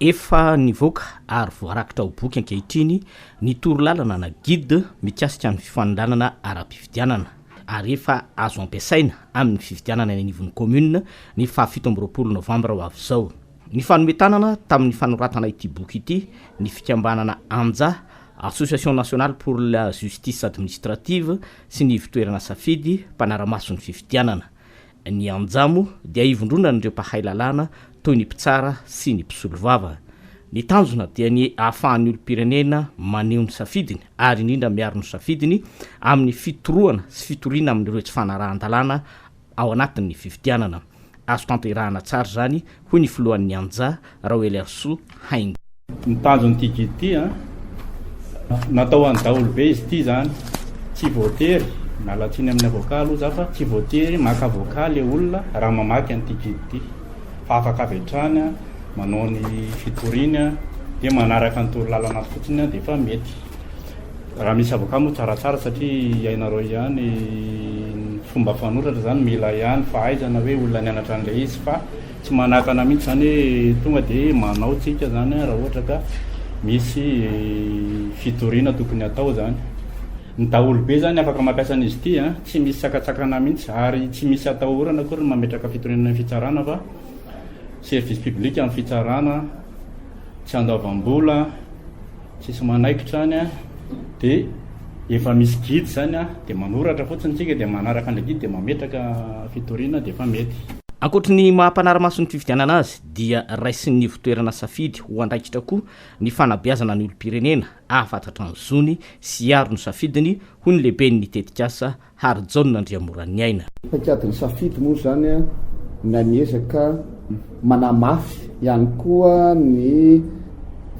Efa nivoaka ary voarakitra ho boky ankehitriny ny torolalana na guide mikasika ny fifanondranana ara-pifidianana ary efa azo ampiasaina amin'ny fifidianana eny anivon'ny kaominina ny faha fito amby roapolo novambra ho avy izao. Nifanome tanana tamin'ny fanoratana ity boky ity ny fikambanana Anja, Association Nationale pour la Justice Administrative, sy ny Ivotoerana Safidy, mpanara-maso ny fifidianana. Ny Anja moa dia ivondronan'ireo mpahay lalàna toy ny mpitsara sy ny mpisolovava. Ny tanjona dia ny ahafahan'ny olom-pirenena maneho ny safidiny ary indrindra miaro ny safidiny amin'ny fitorohana sy fitoriana amin'ireo tsy fanarahan-dalàna ao anatin'ny fifidianana. Azo tanterahana tsara izany hoy ny filohan'ny Anja, Raoelarisoa Haingo. Ny tanjon'ity guide ity an, natao ho an'ny daholobe izy ity izany, tsy voatery, miala tsiny amin'ny avocat aloha za fa tsy voatery maka avocat le olona raha mamaky an'ity guide ity fa afaka avy hatrany an, manao ny fitoriany an, dia manaraka ny torolalana fotsiny an dia efa mety. Raha misy avocat moa tsaratsara satria iainareo ihany ny fomba fanoratra zany mila ihany fahaizana hoe olona nianatra an'ilay izy fa tsy manakana mihitsy zany hoe tonga de manao tsika zany raha ohatra ka misy fitoriana tokony atao zany. Ny daholobe zany afaka mampiasa an'izy ity a, tsy misy sakatsakana mihitsy ary tsy misy atahorana akory ny mametraka fitoriana any fitsarana fa service public amin'ny fitsarana, tsy andoavam-bola, Tsisy manaikitra any an, dia efa misy guide zany an, dia manoratra fotsiny tsika dia manaraka an'ilay guide dia mametraka fitoriana dia efa mety. Ankoatry ny maha mpanara-maso ny fifidianana azy dia raisin'ny ivon-toerana safidy ho andraikitra koa ny fanabeazana ny olom-pirenena hahafatatra ny zony sy hiaro ny safidiny, hoy ny lehiben'ny tetikasa Harijaona Andriamoraniaina. Paikadin'ny safidy moa izany ny amin' ny ezaka manamafy ihany koa ny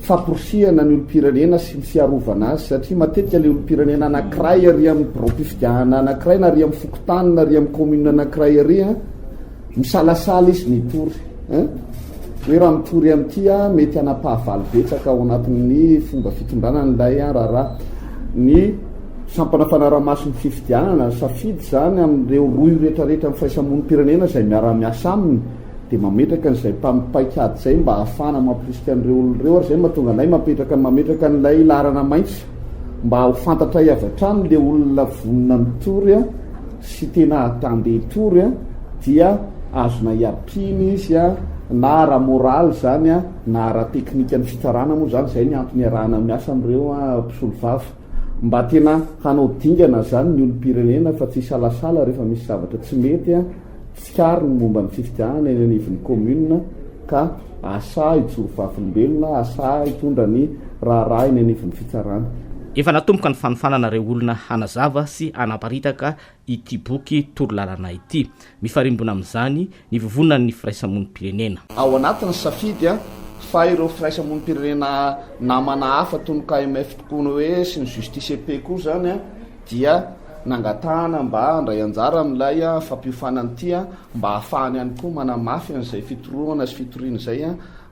famporisihana ny olom-pirenena sy ny fiarovana azy satria matetika ilay olom-pirenena anankiray ary amin'ny biraom-pifidianana anankiray na ary amin'ny fokontany na ary amin'ny kaominina anankiray ary Misalasala izy mitory hein. Hoe raha mitory amin'ity aho mety hanapahavalo betsaka ao anatin'ny fomba fitondrana an'ilay raharaha. Ny sampana fanarahamaso ny fifidianana, safidy izany amin'ireo rohy retraretra amin'ny fahaisamonim-pirenena izay miara-miasa aminy dia mametraka an'izay mpam paikady izay mba hahafahana mampirisika an'ireo olona ireo ary izay no mahatonga anay mapetraka mametraka an'ilay laharana maitso mba ho fantatray avy hatrany ilay olona vonona mitory sy tena attendez tour dia azona iapina izy na ara moral zany na ara technique ny fitsarana moa zany zay ny antony iarahana miasa amreo mpisolo vava mba tena hanao dingana zany ny olompirenena fa tsy hisalasala refa misy zavatra tsy mety Tsikariny ny momba ny fifidianana eny anivon'ny kaominina ka asa hijoro vavolombelona, asa hitondra ny raharaha eny anivon'ny fitsarana. Efa natomboka ny fanofanana ireo olona hanazava sy hanaparitaka ity boky torolalana ity. Mifarimbona amin'izany ny vovonan'ny firaisamonim-pirenena. Ao anatin'ny safidy fa ireo firaisamonim-pirenena namana hafa toy ny KMF tokoa ny hoe sy ny Justice et Paix koa izany. dia nangatahana mba handray anjara amin'ilay fampiofanana ity mba hahafahany ihany koa manamafy an'izay fitorohana sy fitoriana izay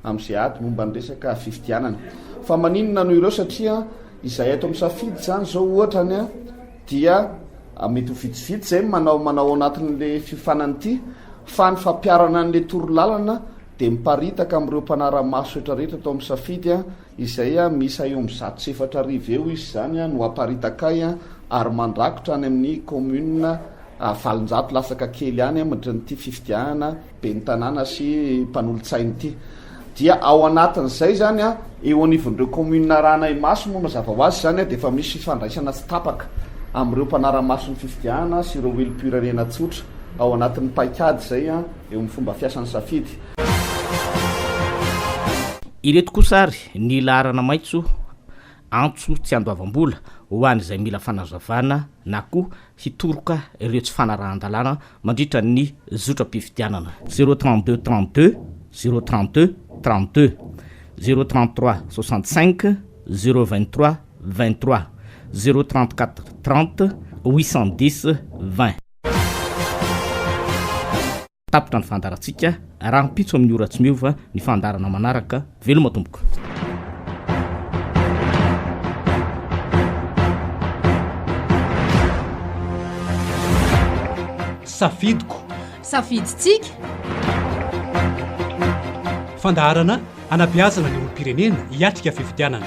amin'izay ady momba ny resaka fifidianana. Fa maninona no ireo satria izahay eto amin'ny Safidy izany izao ohatra any dia mety ho vitsivitsy izay manao manao anatin'ilay fiofanana ity fa ny fampiharana an'ilay torolalana dia miparitaka amin'ireo mpanara-maso rehetra rehetra eto amin'ny Safidy Izay miisa eo amin'ny zato sy efatra arivo eo izy izany no aparitaka ahy ary mandrakotra any amin'ny kaominina valonjato latsaka kely any amin'ity fifidianana ben'ny tanàna sy mpanolotsaina ity. Dia ao anatin'izay izany, eo anivon'ireo kaominina arahana Imaso moa mazava ho azy izany dia efa misy fifandraisana tsy tapaka amin'ireo mpanara-maso ny fifidianana sy ireo wilipura-rena tsotra ao anatin'ny paikady izay. eo amin'ny fomba fiasan'ny safidy. Ireto kosa ary ny laharana maitso, antso tsy andoavam-bola ho an'izay mila fanazavana na koa hitoroka ireo tsy fanarahan-dalàna mandritra ny zotram-pifidianana. Zéro trente deux trente deux zéro trente deux trente deux zéro trente trois soixante cinq zéro vingt trois vingt trois zéro trente quatre trente huit cent dix vingt. Tapitra ny fandaharantsika, rahampitso amin'ny ora tsy miova ny fandaharana manaraka, veloma tompoko. Safidiko. Safidintsika. Fandaharana hanabeazana ny olom-pirenena hiatrika fifidianana.